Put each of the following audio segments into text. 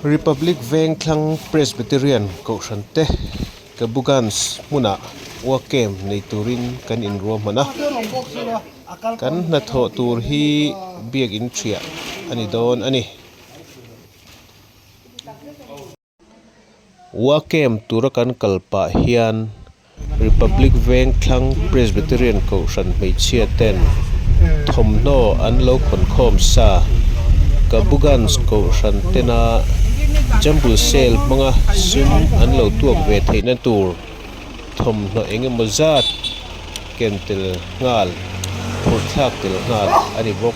Republic Veng Thlang Presbyterian Kohhrante Cabugans hmunah UAKM nei turin kan inruahman a, kan hnathawh tur hi biak in hria a ni dawn a ni. Wacem tura kan kal pah hian Republic Vengthlang Presbyterian Kohhran hmeichhia ten thawmhnaw an lo khawnkhawm sa. Kabugans Kohhran tena Jumble Sale hmanga sum an lo tuak ve theihna tur thawmhnaw eng emaw zat ken tel nghal, phurhthlak tel nghal a ni bawk.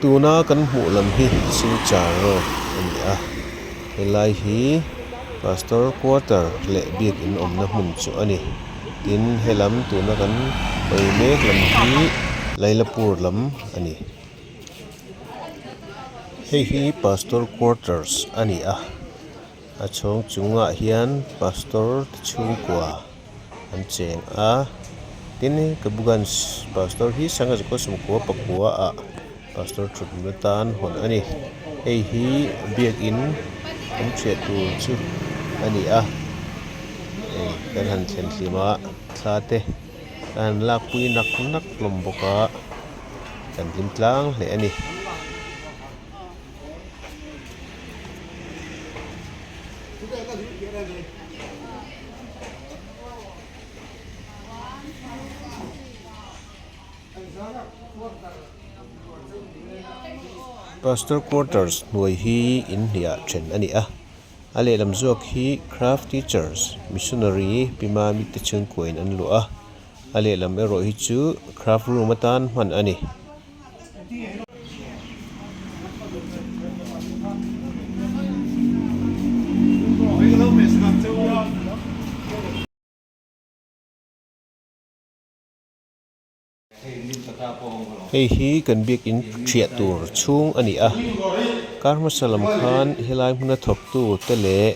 Tuna kan hmuh lam hi Silchar road a ni a, helai hi Pastor quarter leh biakin awmna hmun chu a ni. Tin helam tuna kan pawi mek lam hi Lailapur lam a ni. Hei hi Pastor quarters a ni a, a chhawng chungah hian Pastor chhungkua. an cheng a tin kabuganj pastor hi sangha zukawt sumkua pakua ah pastor thut na tan hawn a ni hei hi biakin an chhiah tur chu a ni a hei kan han thlen hlim a thla te a han lak pui nak nak hlawm bawk a kan hlim tlang hle a ni. Pastor Quarters hnuai hi inhliah then a ni a, a lehlam zawk hi Craft Teachers Missionary Pima mite chhungkuain an luah a, a lehlam erawh hi chu Craft Room atan hman a ni. Hei hi kan biakin hriat tur chhung a ni a kar hmasa lam khan helai hmuna thawk tu te leh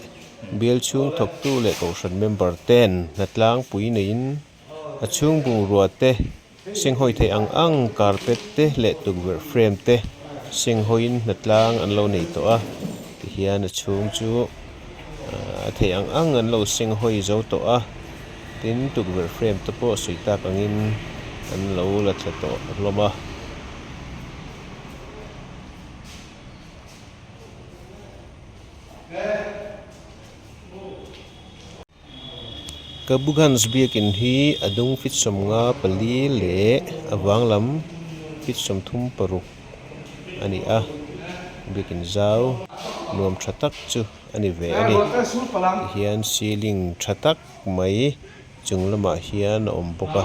bial chhung thawk tu leh kohhran member ten hnatlangpui neiin-- A chhung bungrua te, senghawi theih ang ang carpet te leh tukverh frame te senghawiin hna tlang an lo nei tawh a, tihian a chhung chu a theih ang ang an lo senghawi zo tawh a, tin tukverh frame te pawh sawi tak angin an lo la thla tawh hlawm a. Kabugans biakin hi a dung fitsawm nga pali leh a vang lam fitsawm thum paruk a ni a, biakin zau nuam tha tak chu a ni ve a ni. Tihian ceiling tha tak mai chung lamah hian a awm bawk a.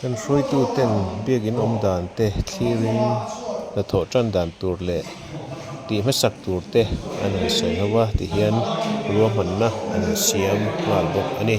Kan hruaituten biakin awmdan te thlirin hnathawh tan dan tur leh tih hmasak tur te an rawn sawi ho va ti hian ruahmanna an siam nghal bawk a ni.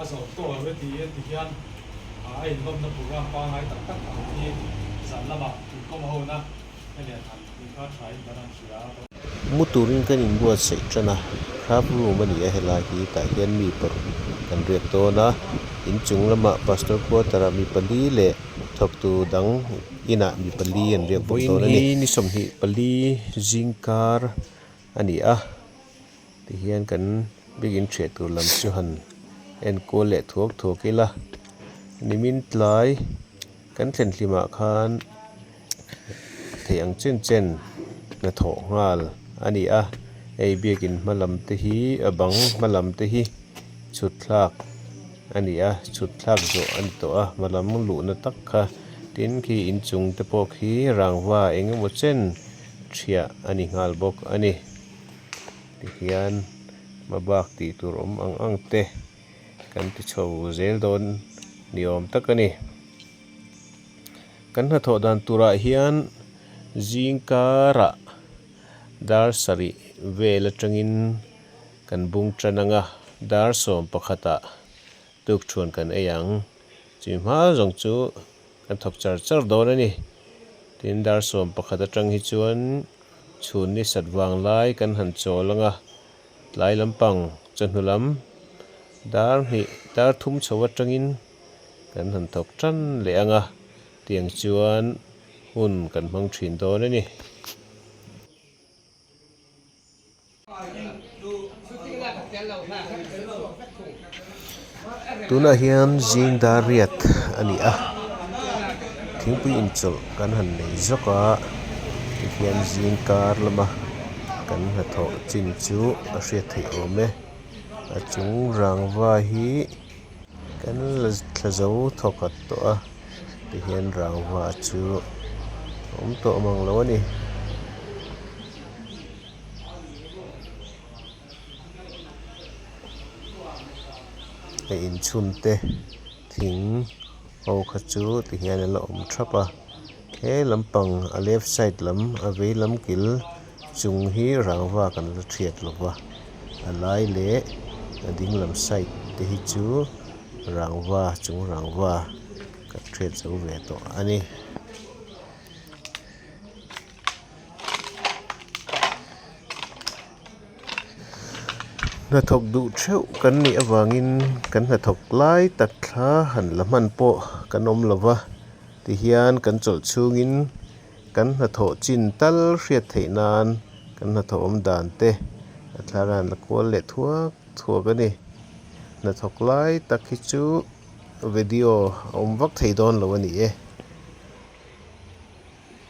a zawm tawh a ready a ti hian a inlawmna program pangngai tak tak ang hi zan lama inkawm ho na a lian han inkar tha in kan rawn hria a ka. Mu turin kan inbuatsaih tan a, Hrap room a ni a helai hi, tah hian mi paruk kan riak dawn a, in chung lama pastor quarter ah mi pali leh thawk tu dang inah mi pali an riak bawk dawn a ni. Vawiin hi ni sawmhnih pali zing kar a ni a, Tihian kan bikin chhe tur lam chu han enkual leh thuak thuak ila, nimin tlai kan thlen hlimah khan theih ang chen chen hnathawh nghal a ni a, ei biakin hma lam te hi a bang hma lam te hi chhut thlak a ni a, chhut thlak zawh a ni tawh a hma lam luhna tak kha, tin khi inchung te pawh khi rangva eng emaw chen thiah a ni nghal bawk a ni. ti hian hma bak tih tur awm ang ang te kan ti chho zel dawn ni awm tak a ni. Kan hnathawh dan turah hian zing kara dar sarih vel atangin kan bung tan ang a, dar sawm pakhatah Tuk chhuan kan ei ang. Chhi hma zawng chu kan thawk char char dawn a ni. Tin, dar sawm pakhat atang hi chuan chhun ni sat vang lai kan han chawl ang a. Tlai lampang chawhnu lam dar hnih dar thum chho atangin kan han thawk ṭan leh ang a tiang chuan hun kan hmang ṭhin dawn a ni. Tunah hian zing dar riat a ni a, thingpui inchawlh kan han nei zawk a, tihian zing kar lama kan hnathawh chin chu a hriat theih awm e, a chung rangva hi kan la thla zo thawk nghat tawh a, tihian rangva chu a awm tawh mang lo a ni. a inchhun te thing ho kha chu ti hian a la awm thrap a he lampang a left side lam a vei lam kil chung hi rangva kan la thiat lo va a lai leh a ding lam side te hi chu rangva chung rangva kan thiat zo ve tawh a ni. Hnathawk duh theuh kan nih avangin kan hnathawk lai tak thla han la hman pawh kan awm lo va, tihian kan chawlh chhungin kan hnathawh chin tal hriat theih nan kan hnathawh awm dan te a thlar a han la kual leh thuak thuak a ni. Hnathawk lai tak hi chu video a awm vak thei dawn lo a ni e.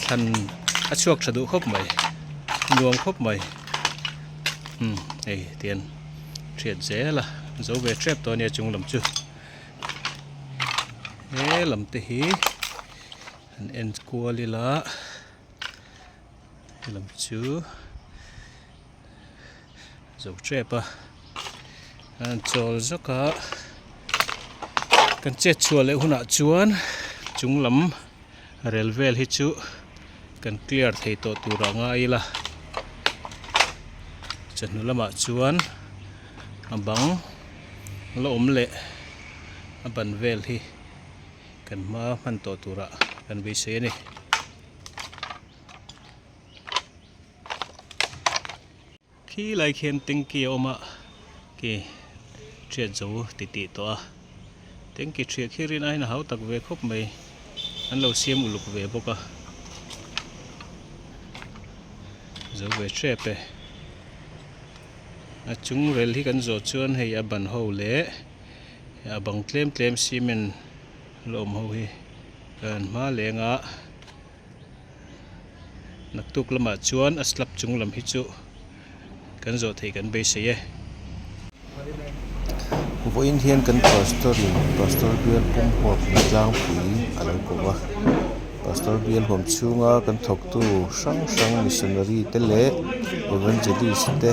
thlan a chhuak tha duh khawp mai nuam khawp mai hmm hei ti hian hriat zel a zo ve tep tawh a nia chung lam chu he lam te hi an en kual ila he lam chu-- zo ṭep a an chawl zak a kan chet chhuah leh hunah chuan chung lam rel vel hi chu kan clear thei tawh tur a ngai ila chawhnu lamah chuan a bang la awm leh a ban vel hi kan hma hman tawh tur ah kan beisei a ni. khi lai khian tanky a awm a khi hriat zo ti tih tawh a tanky hria khi rian aiin a hau tak ve khawp mai an lo siam uluk ve bawk a zo ve hrep e a chung rel hi kan zawh chuan hei a ban ho leh a bang tlem tlem cement la awm ho hi a han hma leng a. naktuk lamah chuan a slap chung lam hi chu kan zawh thei kan beisei e. Vawiin hian kan pastor in pastor bial pum huap in tlangpui a lo ko va, pastor bial huam chhunga kan thawktu hrang hrang missionary te leh evangelist te,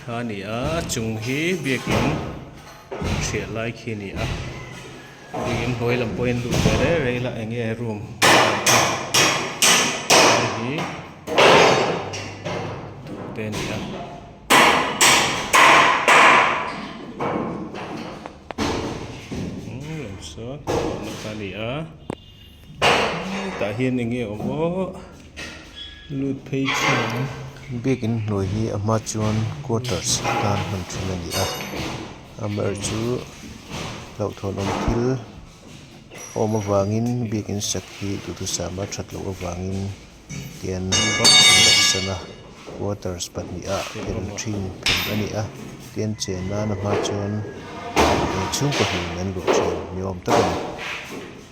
Kha ni a, a chung hi biakin hriat lai khi ni a, hei in hawi lam pawhin luh ve rei rei la eng nge room hei hi duh te ni a. Eng lo sawn, a ni a. Tah hian eng nge awm aw lut phei thin. Bag in hnuai hi a hma chuan quarters tan hman thin a ni a, am erawhchu hlauhthawn awm thil awm avangin bag in sak hi duhthusam a that loh avangin tian vat an rawn san a, quarters pahnihah phen thin phen a ni a, tian chen nan a hma chuan chhungkaw hnihna an luah thin ni awm tak a ni.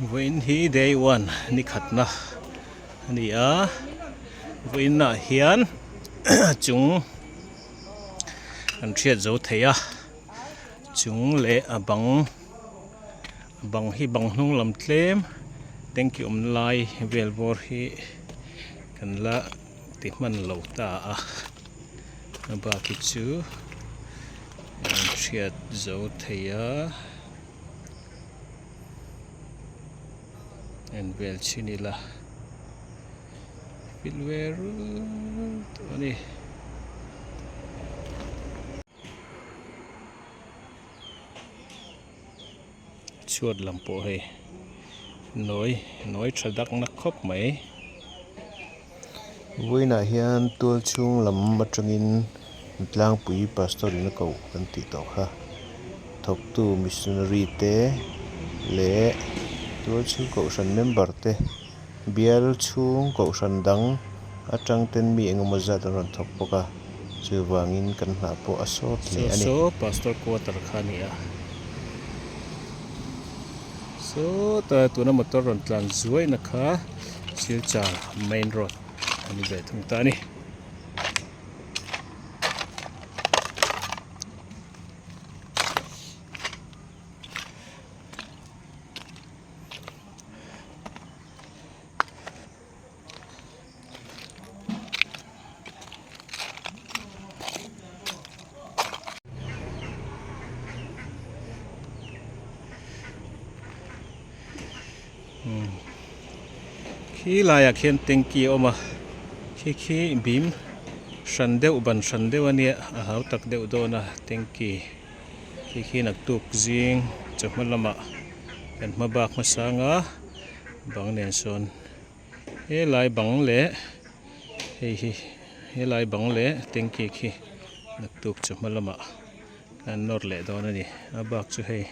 vawiin hi day one ni khatna a ni a vawiin ah hian chung an hriat zo thei a. chung leh a bang a bang hi bang hnung lam tlem tanky awmna lai vel bawr hi kan la ti hman lo ta a a bak hi chu an hriat zo thei a en vel chin ila fill ve rut tawh a ni. chhuat lam pawh hei nawi nawi tha dak na khawp mai vawiin ah hian tual chhung lam atangin tlangpui pastor in a ko kan tih tawh kha thawk tu missionary te leh tual chhung kohhran member te-- Bial chhung kohhran dang atangten mi engemaw zat an rawn thawk bawk a, chuvangin kan hna pawh a sawt hle a ni. Saw saw Pastor quarter kha a ni a, sawta tuna motor rawn tlan zuaina kha Silchar main road a ni ve thung ta a ni. khi laiah khian tanky a awm a khi khi bim hran deuh ban hran deuh a nia a hau tak deuh dawn a tanky . khi khi nak tuk zing chawhma lama kan hma bak hmasang a, bang nen sawn helai bang leh hei hi helai bang leh tanky khi nak tuk chawhma lama kan nawr leh dawn a ni, a bak chu hei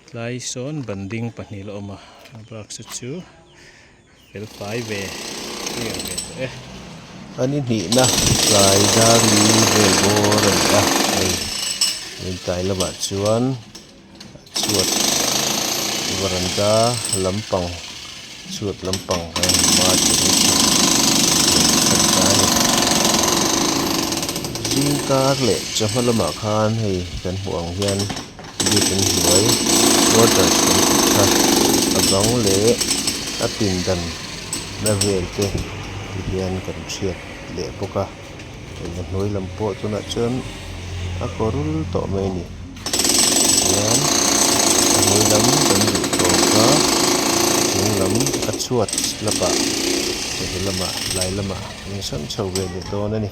tlai sawn banding pahnih la awm a, a bak sa chu. Felfai ve clear ve tawh e. An i hnihna tlai dar li vel bawr a ni a, hei Rintai lamah chuan a chhuat varanda lampang chhuat lampang kan awm a, chu chu chu kan ta a ni. Zingkar leh chawhma lamah khan hei kan hmuh ang hian. Biakin hnuai quarters kan thik kha a bang leh a pindan na vel te te hian kan chhiat leh bawk a eng a hnuai lam pawh tunah chuan a kawrul tawh mai a ni tichuan a hnuai lam kan duh tawp a a chung lam a chhuat la pah hemi lamah tlai lamah an hrem chho ve leh dawn a ni.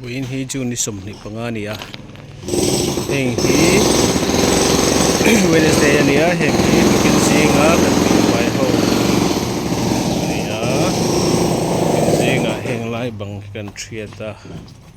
Buiin hi June ni sawmhnih panga a ni a, heng hi Wednesday a ni a, heng hi Putin zinga kan tih hnuai ho a ni a, Putin zingah henglai bang hi kan hriat a.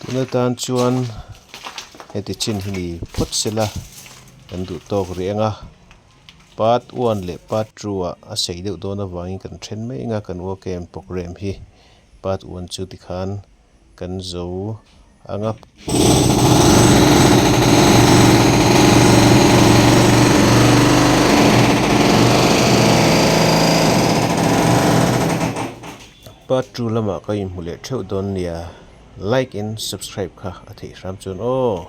Tuna tan chuan heti chin hi ni phawt se la kan duh tawk rih ang a, Part one leh Part two ah a sei deuh dawn avangin kan then mai anga kan uak em programme hi Part one chu tikhan kan zo. ang a. Part two lama ka inhmu leh theuh dawn nia like in subscribe kha a theih hram chuan aw.